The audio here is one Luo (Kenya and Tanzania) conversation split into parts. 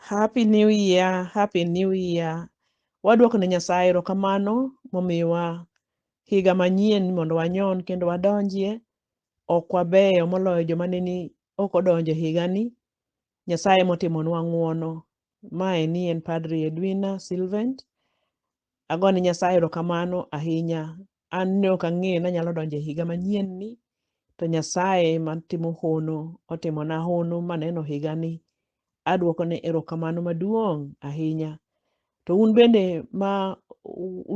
Happy New Year, Happy New Year. Waduoko ne Nyasaye erokamano momiwa higa manyien mondo wanyon kendo wadonjie. Ok wabeyo moloyo joma ne ni ok odonjo e higani. Nyasaye emotimonwa ng'wono. Mae ni en Padri Edwina Sylvent. Agone Nyasaye erokamano ahinya an ne ok ang'eyo ni anyalo donjo e higa manyien ni to Nyasaye matimo hono otimona hono maneno higa ni adwoko ne erokamano maduong' ahinya. To un bende ma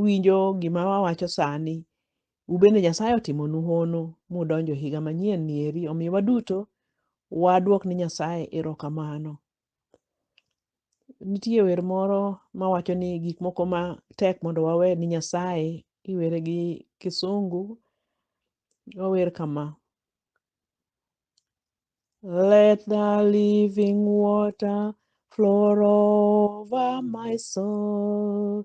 winjo gima wawacho sani, un bende Nyasaye otimonu hono mudonjo e higa manyien ni eri. Omiyo waduto wadwok ni Nyasaye erokamano. Nitie wer moro mawacho ni gik moko ma tek mondo wawe ni Nyasaye, iwere gi kisungu, ower kama. Let the living water flow over my soul.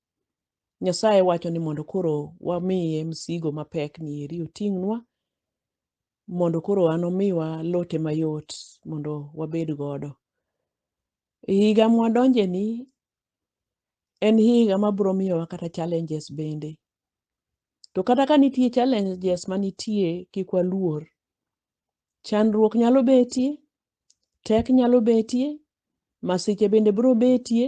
Nyasaye wacho ni mondo koro wamiye msigo mapek ni eri oting'nwa mondo koro an omiwa lote mayot mondo wabed godo. E higa mwadonje ni en higa ma bro miyowa kata challenges bende. To kata ka nitie challenges ma nitie kik waluor. Chandruok nyalo betie, Tek nyalo betie, masiche bende biro betie,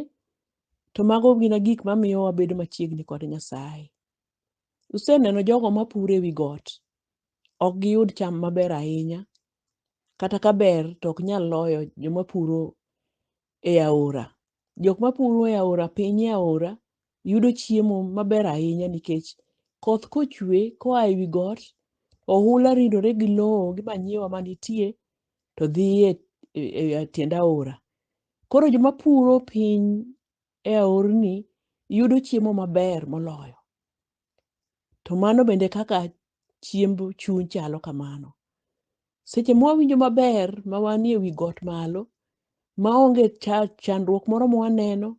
to mago gina gik mamiyo wabedo machiegni kod Nyasaye. Useneno jogo mapuro ewi got, ok giyud cham maber ahinya, kata ka ber to ok nyal loyo joma puro e aora. Jok mapuro e aora piny e aora yudo chiemo maber ahinya nikech koth kochwe koa e wi got, ohula ridore gi lowo gi manyiwa manitie to dhi e, e, e tiend aora. Koro joma puro piny e aorni yudo chiemo maber moloyo. To mano bende kaka chiemb chuny chalo kamano. Seche ma wawinjo maber ma wanie wi got malo, ma onge chandruok moro ma waneno,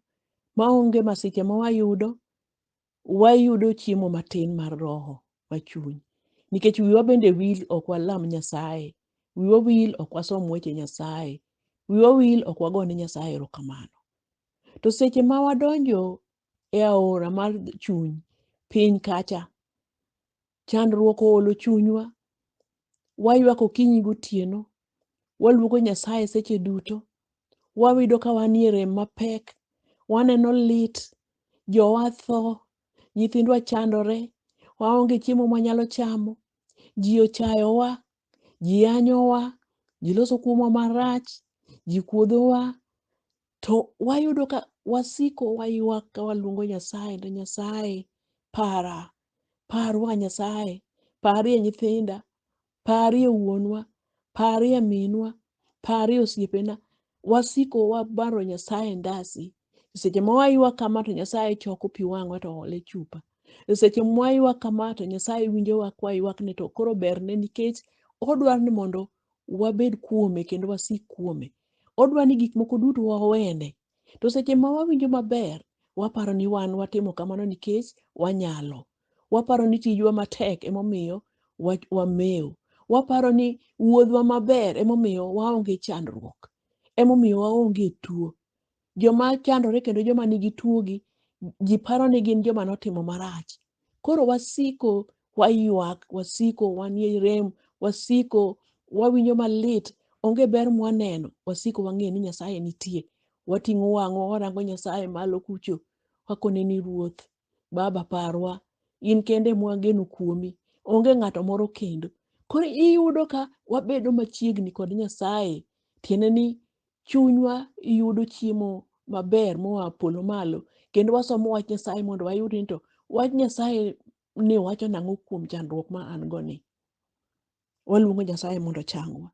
ma onge masiche ma wayudo, wayudo chiemo matin mar roho ma chuny. Nikech wiwa bende wil ok walam Nyasaye, wiwa wil ok wasom weche Nyasaye, wiwa wil ok wagone Nyasaye erokamano. To seche ma wadonjo e aora mar chuny piny kacha. Chandruok oolo chunywa, waywak okinyi gotieno, waluongo Nyasaye seche duto, wayudo ka wanie rem mapek, waneno lit, jowa tho, nyithindwa chandore, waonge chiemo mwanyalo chamo, ji ochayowa, ji yanyowa, ji loso kuomwa marach, ji kuodhowa, To wayudo ka wasiko waywak ka waluongo Nyasaye ni Nyasaye para, parwa Nyasaye, parie nyithinda, parie wuonwa, parie minwa, parie osiepena. Wasiko wabaro Nyasaye ndasi. Seche ma waywak kama to Nyasaye choko pi wang'wa to oole chupa. E seche ma waywak kama to Nyasaye winjowa kwaywakne to koro berne nikech odwaro ni mondo wabed kuome kendo wasik kuome. Odwa ni gik moko duto wawene. To seche ma wawinjo maber, waparo ni wan watimo kamano nikech wanyalo. Waparo ni tijwa matek emomiyo wa- wamewo. Waparo ni wuodhwa maber emomiyo waonge chandruok, emomiyo waonge tuo. Joma chandore kendo joma nigi tuogi, ji paro ni gin joma notimo marach. Koro wasiko waywak, wasiko wanie rem, wasiko wawinjo malit, onge ber mwaneno, wasiko wang'eyo ni Nyasaye nitie. Wating'o wang'wa warango Nyasaye malo kucho, wakoneni Ruoth, Baba parwa, in kende ema wageno kuomi, onge ng'ato moro kendo. Koro iyudo ka wabedo machiegni kod Nyasaye, tiende ni chunywa yudo chiemo maber moa polo malo, kendo wasomo wach Nyasaye mondo wayud ni to wach Nyasaye ni wacho nang'o kuom chandruok ma an go ni. Waluongo Nyasaye mondo ochangwa.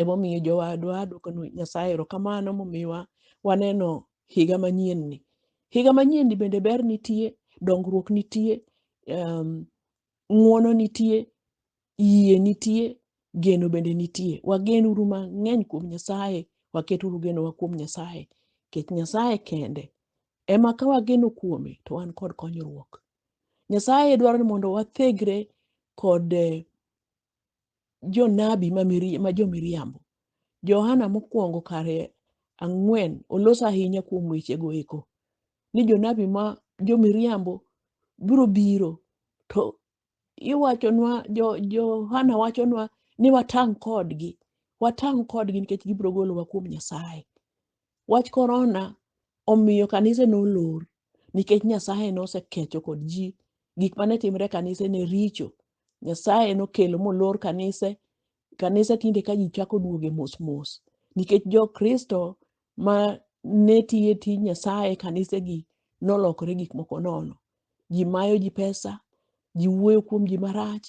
Emomiyo jowadwa adwoko ni Nyasaye erokamano momiwa waneno higa manyien ni. Higa manyien ni bende ber nitie, dongruok nitie, um, ng'wono nitie, yie nitie, geno bende nitie. Wagen uru mang'eny kuom Nyasaye, waket uru genowa kuom Nyasaye. Nikech Nyasaye kende ema ka wageno kuome to wan kod konyruok. Nyasaye dwaro ni mondo wathegre kod eh, jonabi ma miri- ma jomiriambo. Johana mokwongo kare ang'wen oloso ahinya kuom wechego eko ni jonabi ma jomiriambo biro biro to iwachonwa jo- Johana wachonwa ni watang' kodgi watang' kodgi nikech gibiro golowa kuom Nyasaye. Wach korona omiyo kanise nolor nikech Nyasaye nosekecho kod ji gik mane timre e kanise ne richo. Nyasaye nokelo molor kanise, kanise tinde ka ji chako duoge mos mos nikech jo Kristo ma ne tiyo e tij Nyasaye e kanisegi nolokore gik moko nono. Ji mayo ji pesa, ji wuoyo kuom ji marach,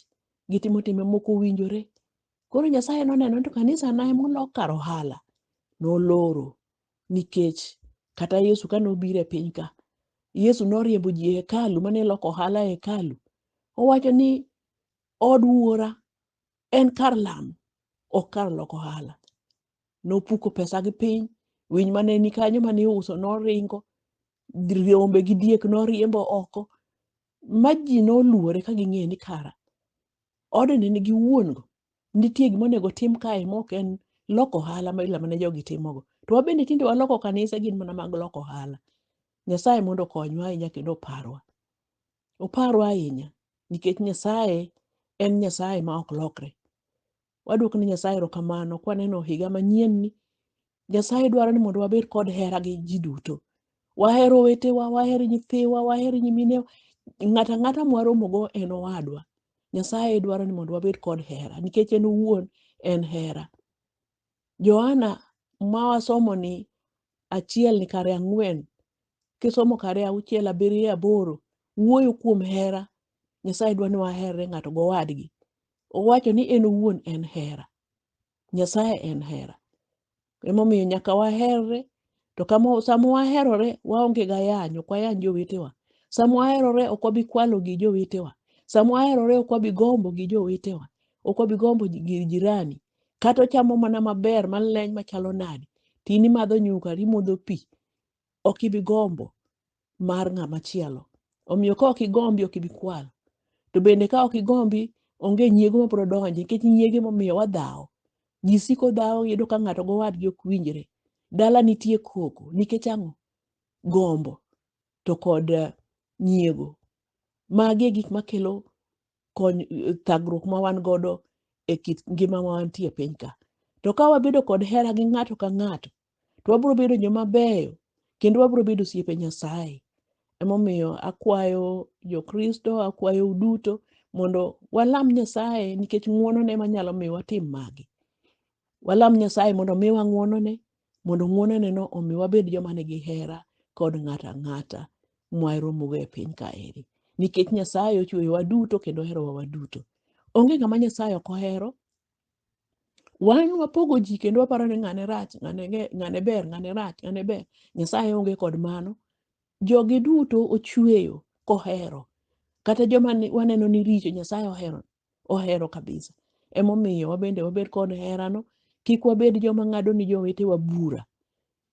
gitimo timbe moko owinjore. Koro Nyasaye noneno ni to kanisa na emolok kar ohala, noloro nikech kata Yesu kane obiro e piny ka, Yesu noriembo ji e hekalu mane loko ohala e hekalu. Owacho ni od wuora en kar lamo, ok kar loko ohala. Nopuko pesa gi piny, winy mane ni kanyo mane iuso noringo, rombe gi diek noriembo oko, ma ji noluore ka ging'eyo ni kara odni nigi wuon-go Nitie gima onego tim kae ma ok en loko ohala ma ila mane jogi timogo. To wabende tinde waloko kanise gin mana mag loko ohala. Nyasaye mondo okonywa ahinya kendo oparwa. Oparwa ahinya nikech Nyasaye en Nyasaye ma ok lokre. Wadwoko ne Nyasaye erokamano kwaneno higa manyien ni Nyasaye dwaro ni mondo wabed kod hera gi ji duto. Waher owetewa, waher nyithiwa, waher nyiminewa. Ng'ato ang'ata mwaromogo en owadwa. Nyasaye dwaro ni mondo wabed kod hera nikech en owuon en hera. Johana ma wasomo ni achiel ni kare ang'wen, kisomo kare auchiel, abiriyo, aboro, wuoyo kuom hera. Nyasaye dwa ni waherre ng'ato gowadgi. Owacho ni en owuon en hera. Nyasaye en hera. Emomiyo nyaka waherre, to kama sama waherore waonge ga yany, ok wayany jowetewa. Sama waherore ok wabi kwalo gi jowetewa. Sama waherore ok wabi gombo gi jowetewa. Ok wabi gombo ji- gir jirani. Kata ochamo mana maber maleny machalo nade, to in imadho nyuka to imodho pi, ok ibi gombo. mar ng'ama chielo. Omiyo ka ok igombi ok ibi kwalo. To bende ka ok igombi onge nyiego ma biro donje nikech nyiege momiyo wadhawo. Ji siko dhawo yudo ka ng'ato gowadgi ok winjre. Dala nitie koko nikech ang'o? Gombo to kod eh, nyiego. Magi e gik makelo kony eh, thagruok ma wan godo e kit ngima ma wantie e piny ka. To ka wabedo kod hera gi ng'ato ka ng'ato to wabiro bedo joma beyo kendo wabiro bedo osiepe Nyasaye. Emomiyo akwayo Jokristo, akwayo uduto mondo walam Nyasaye nikech ng'wonone ema nyalo miyo watim magi. Walam Nyasaye mondo omiwa ng'wonone, mondo ng'wononeno omi wabed joma nigi hera kod ng'ato ang'ata mwaromogo e piny kaeri. Nikech Nyasaye ochweyowa duto kendo oherowa waduto. Onge ng'ama Nyasaye ok ohero, wan wapogo ji kendo waparo ni ng'ane rach ng'ane ge- ng'ane ber ng'ane rach ng'ane ber nyasaye onge kod mano jogi duto ochweyo kohero kata joma ni- waneno ni richo nyasaye ohero ohero kabisa emomiyo wabende wabed kod herano kik wabed joma ng'ado ni jowetewa bura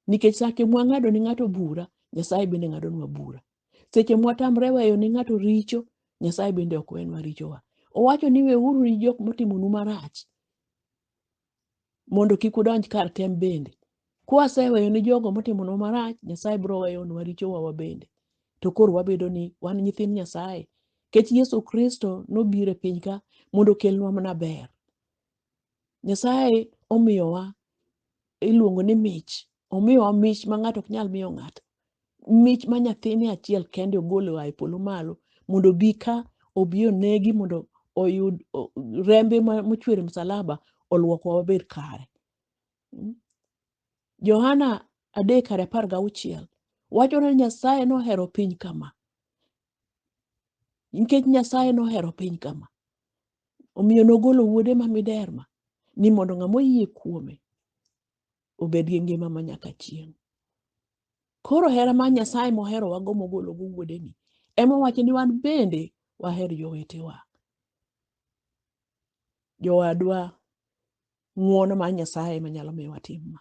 nikech sake mwang'ado ni ng'ato bura nyasaye bende ng'adonwa bura Seche mwatamre weyo ne ng'ato richo, Nyasaye bende ok wenwa richowa. Owacho ni weuru ni jok motimonu marach mondo kik udonj kar tem bende. Kwaseweyo ni jogo motimonwa marach, Nyasaye biro weyonwa richowa wa bende. To koro wabedo ni wan nyithind Nyasaye. Kech Yesu Kristo nobiro e piny ka mondo okelnwa mana ber. Nyasaye omiyowa iluongo ni mich. Omiyowa mich ma ng'ato ok nyal miyo ng'ato. Mich ma nyathine achiel kende ogolo oa e polo malo mondo obi ka obi onegi mondo oyud o- rembe ma- mochwer e msalaba olwokwa wabed kare. Mm. Johana adek kar apar gauchiel wacho ni Nyasaye nohero piny kama nikech nyasaye nohero piny kama omiyo nogolo wuode ma miderma ni mondo ng'ama oyie kuome obed gi ngima ma nyaka chieng' koro hera ma nyasaye mohero wago mogolo go wuodeni ema wacho ni wan bende waher jowetewa jowadwa ng'uono mar nyasaye manyalo miyo watim ma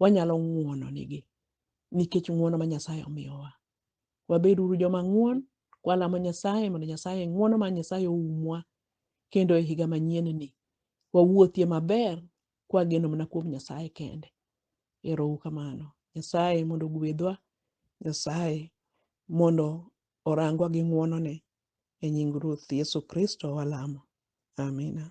wanyalo ng'wononigi nikech ng'wono ma Nyasaye omiyowa. Wabed uru joma ng'won, kwalamo Nyasaye mondo Nyasaye ng'wono ma Nyasaye oumwa kendo e higa manyien-ni wawuothie maber kwageno mana kuom Nyasaye kende. Ero uru kamano. Nyasaye mondo ogwedhwa, Nyasaye mondo orangwa gi ng'wonone. E nying Ruoth Yesu Kristo walamo. Amina.